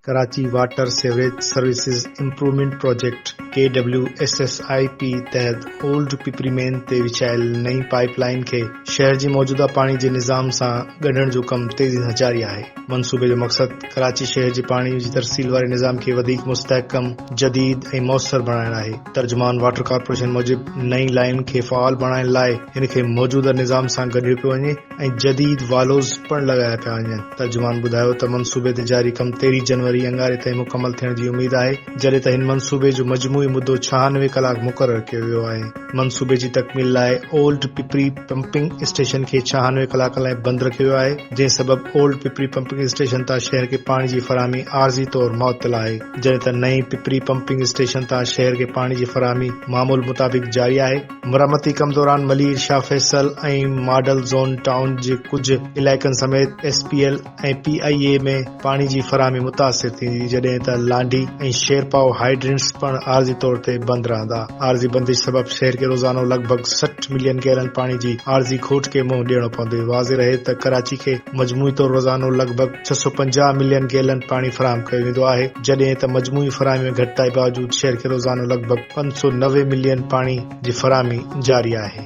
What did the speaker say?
Karachi water sewerage services improvement project K W S S I P تحت old Pipri main تي وڇايل نئين pipe line کي شهر جي موجوده پاڻي جي نظام سان ڳنڍڻ جو ڪم تيزي سان جاري آهي منصوبي جو مقصد ڪراچي شهر جي پاڻي جي ترسيل واري نظام کي وڌيڪ مستحڪم جديد ۽ موثر بڻائڻ آهي ترجمان واٽر ڪارپوريشن موجب نئين لائين کي فعال بڻائڻ لاء ان کي موجوده نظام سان گڏيو پيو وڃي ۽ جديد والوز پڻ لڳايا پيا وڃن. ترجمان ٻڌايو ته منصوبي تي جاري ڪم تيرهين جنوري اڱاري تائين مڪمل ٿيڻ جي اميد آهي جڏهن ته هن منصوبي جو مجموعي مدو ڇهانوي ڪلاڪ مقرر ڪيو ويو آهي. منصوبي جي تڪميل لاء اولڊ پپري پمپنگ اسٽيشن کي ڇهانوي ڪلاڪن لاء بند رکيو ويو آهي جنهن سبب اولڊ پپري پمپنگ اسٽيشن تان شهر کي پاڻي جي فراهمي عارضي طور معطل آهي. جڏهن ته نئين پپري پمپنگ اسٽيشن تان شهر کي پاڻي جي فراهمي معمول مطابق جاري آهي. مرمتي ڪم دوران Malir, Shah Faisal ۽ model zone town جي ڪجهه علائقن سميت S P L ۽ P I A ۾ پاڻي جي فراهمي متاثر ٿيندي جڏهن ته لانڍي ۽ شيرپائو هائيڊرينٽس پڻ عارضي طور تي بند رهندا. عارضي بندش سبب شهر کي روزانو لڳ ڀڳ سٺ ملين گيلن پاڻي جي عارضي کوٽ کي منهن ڏيڻو پوندي. واضح رهي ته ڪراچي کي مجموعي طور روزانو لڳ ڀڳ. ڇهه سؤ پنجاهه ملين گيلن پاڻي فراهم ڪيو ويندو آهي، جڏهن ته مجموعي فراهمي ۾ گهٽتائي باوجود شهر کي روزانو لڳ ڀڳ پنج سؤ نوي ملين پاڻي جي فراهمي جاري آهي.